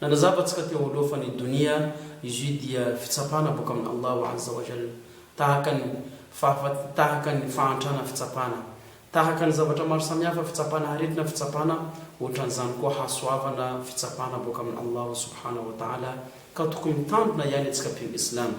Nanazava antsika teo aloha fa ny Donia izy io dia fitsapana boka amin' Allahu Azza wa Jalla, tahaka ny fahafat, tahaka ny fahantrana fitsapana, tahaka ny zavatra maro samihafa fitsapana aretina fitsapana ohatran'izany koa hasoavana fitsapana boka amin' Allahu Subhanahu wa Ta'ala ka tokony mitandrina ihany antsika mpino Islamo.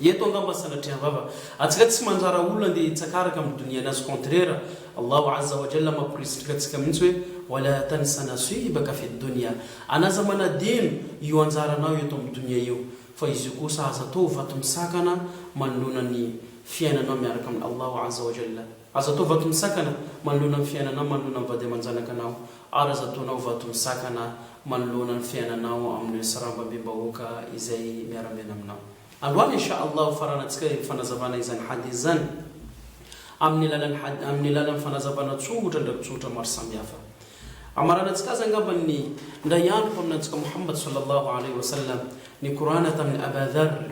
Eto angamba sanatria vava atsika tsy mandrara olona ndeha hitsaka araka amin'ny donia anazy contraire Allahu azza wa jalla mamporisika atsika mihitsy hoe wala tansa naswibaka fid donia anaza manadino io anjaranao eto amin'ny donia io fa izy io kosa aza atao ho vato misakana manoloana ny fiainanao miaraka amin'i Allahu azza wa jalla. Aza atao vato misakana manoloana ny fiainanao manoloana ny vady aman-janakanao ary aza ataonao vato misakana manoloana ny fiainanao amin'ireo sarambabem-bahoaka izay miara-miaina aminao. Androany Insha Allah hofaranantsika io fanazavana izany hadith izany amin'ny alalan'ny had amin'ny alalan'ny fanazavana tsongotra an-drakitsohotra maro samihafa. Amaranantsika azy angamba ny indray andro mpaminantsika Mohamad Sallallahu Alaihi Wasallam ny Kor'ana tamin'i Aba Dharr,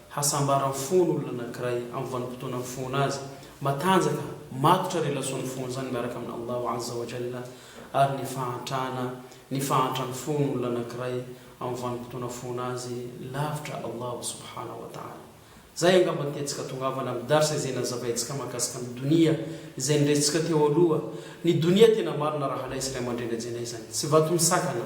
hasambaran'ny fon' olona anankiray amin'ny vanim-potoana mifohana azy, matanjaka, matotra relation nifohany izany miaraka amin' Allahu Azza wa Jalla, ary ny fahantrana, ny fahantran'ny fon' olona anankiray amin'ny vanim-potoana mifohana azy lavitra Allahu Subhanahu wa Ta'ala. Izay angamba ny tetika atongavana amin'ny Dars izay nazavaintsika mahakasika ny Donia izay noresintsika teo aloha, ny Donia tena marina rahalahy sy ray aman-dreny ajanay izany tsy vato misakana,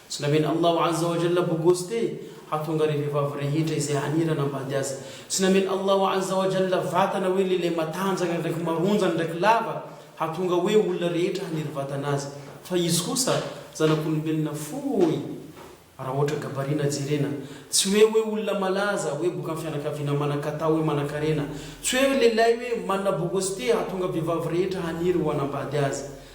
Tsy namen'i Allah Azza wa Jalla bogosy te hahatonga ireo vehivavy rehetra izay hanira hanambady Azy. Tsy namen'i Allah Azza wa Jalla vatana hoe lehilahy matanjaka ndraiky maronjany ndraiky lava hahatonga hoe olona rehetra haniry vatana Azy. Fa Izy kosa zanak'olombelona fohy raha ohatra gabarina jerena. Tsy hoe hoe olona malaza, hoe boka amin'ny fianakaviana manan-katao, hoe manan-karena. Tsy hoe lehilahy hoe manana bogosy te hahatonga vehivavy rehetra haniry ho hanambady Azy.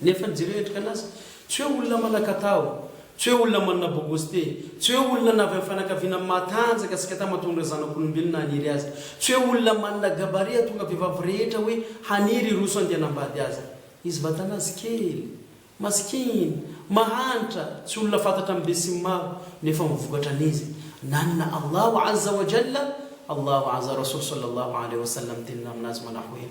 Nefa ny jiro hiatrika anazy, tsy hoe olona manan-katao, tsy hoe olona manana bogosite, tsy hoe olona na avy amin'ny fianakaviana matanjaka sy kata mahatonga ireo zanak'olombelona haniry azy, tsy hoe olona manana gabaria hahatonga vehivavy rehetra hoe haniry hiroso handeha hanambady azy. Izy vatanazy kely, masikina, mahantra, tsy olona fantatra amin'ny besinimaro, nefa mivokatra an'izy, nanana Allahu Azza wa Jalla, Allahu Azza Rasul Sallallahu Alaihi Wasallam tenina aminazy manahoe,